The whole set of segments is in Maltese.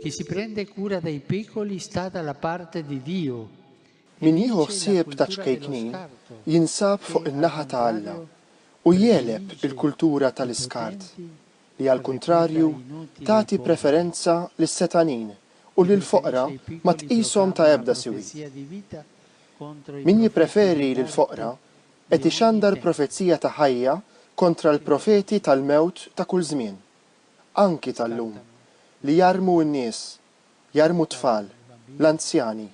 Chi si prende cura dei piccoli sta dalla parte di Dio. Min jieħu ħsieb ta' ċkejknin jinsab fuq in-naħa ta' Alla u jegħleb il-kultura tal-iskart. li għall-kuntrarju tagħti preferenza lis-setgħanin u lill-foqra ma tqishom ta' ebda siwi. Min jippreferi lill-foqra qed ixandar profezija ta' ħajja kontra l-profeti tal-mewt ta' kull żmien, anki tal-lum, li jarmu n-nies, jarmu t-tfal, l-anzjani,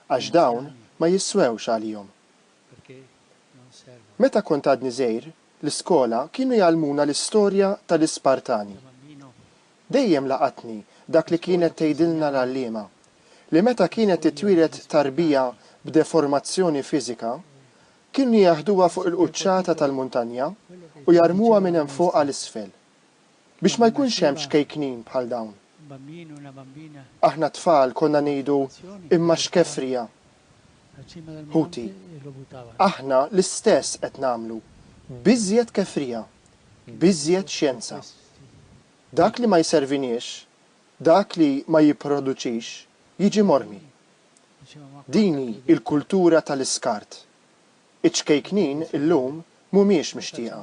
għax dawn ma jisswewx għalihom. Meta kont għadni żgħir, l-iskola kienu jgħallmuna l-istorja tal-Ispartani. Dejjem laqatni dak li kienet tgħidilna l-għalliema, li meta kienet titwieled tarbija b'deformazzjoni fiżika, kienu jaħduha fuq il-quċċata tal-muntanja u jarmuha minn hemm fuq għal isfel. biex ma jkunx hemm ċkejknin bħal dawn. Aħna t-tfal konna ngħidu imma xkefrija. Ħuti, aħna l-istess qed nagħmlu, b'iżjed kefrija, b'iżjed xjenza. Dak li ma jserviniex, dak li ma jipproduċix, jiġi mormi. Din hi l-kultura tal-iskart. Iċ-ċkejknin illum mhumiex mixtieqa.